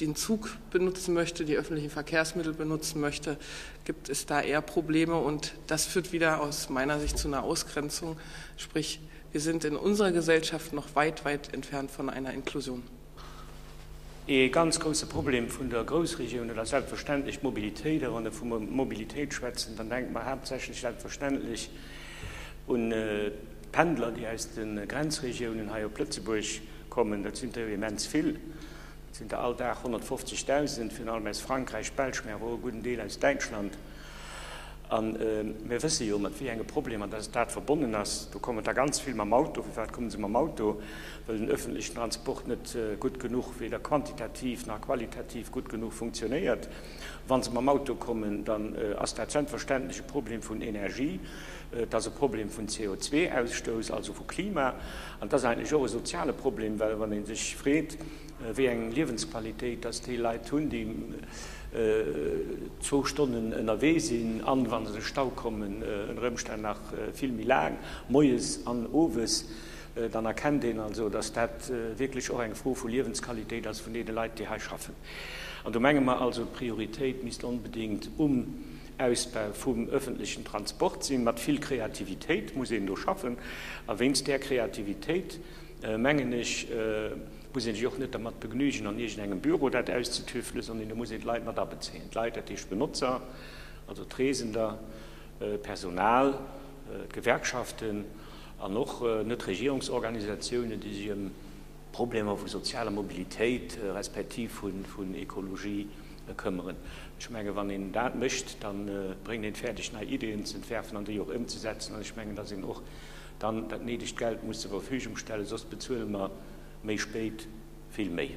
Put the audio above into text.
den Zug benutzen möchte, die öffentlichen Verkehrsmittel benutzen möchte, gibt es da eher Probleme. Und das führt wieder aus meiner Sicht zu einer Ausgrenzung, sprich wir sind in unserer Gesellschaft noch weit, weit entfernt von einer Inklusion. Ee ganz grousse Problem vun der Groussregioun, dat ass selbstverständlech d'Mobilitéit. A wann Der vu Mobilitéit schwätzen, dann denkt mer haaptsächlech selbstverständlech un d'Pendler, déi aus de Grenzregiounen hei op Lëtzebuerg kommen. Dat sinn der jo immens vill. Et sinn der all Dag 150.000, virun allem aus Frankräich, Belsch, mä awer och e gudden Deel aus Däitschland. A mir wësse jo, mat wéi enge Problemer dass dat verbonnen ass. Do kommen der ganz vill mam Auto. Firwat komme se mam Auto? Well den öffentlichen Transport net gutt genuch, weder quantitativ nach qualitativ gutt genuch funktionéiert. Wa se mam Auto kommen, dann ass dat selbstverständlech e Problem vun Energie. Et ass e Problem vun CO2-Ausstouss, also vu Klima, an et ass eigentlech och e soziale Problem, well wann ee sech freet, wéi eng Liewensqualitéit dass déi Leit hunn, déi zwou Stonnen ënnerwee sinn an, wa se de Stau kommen, ënner Ëmstänn nach vill méi laang moies an owes, dann erkennt een also, dass dat wierklech och eng Fro vu Liewensqualitéit ass vun deene Leit, déi hei schaffen. An do menge mer also, d'Prioritéit misst onbedéngt um. Ausbau vum öffentlichen Transport sinn. Mat vill Kreativitéit muss een do schaffen. A wéinst där Kreativitéit, mengen ech, muss ee sech och net dermat begnügen, an iergendengem Büro dat auszetüftelen, sondern do muss een d'Leit mat abezéien. D'Leit, dat heescht d'Benotzer, also d'Reesender, d'Personal, d'Gewerkschaften an och Netregierungsorganisatiounen, déi sech ëm Problemer vu sozialer Mobilitéit respektiv vun Ekologie këmmeren. Ech menge wann een dat mécht, da bréngt een et fäerdeg nei Ideeën z'entwerfen an déi och ëmzesetzen. An ech mengen, datt een och dann dat néidegt Geld muss zur Verfügung stellen, soss bezuele mer méi spéit vill méi.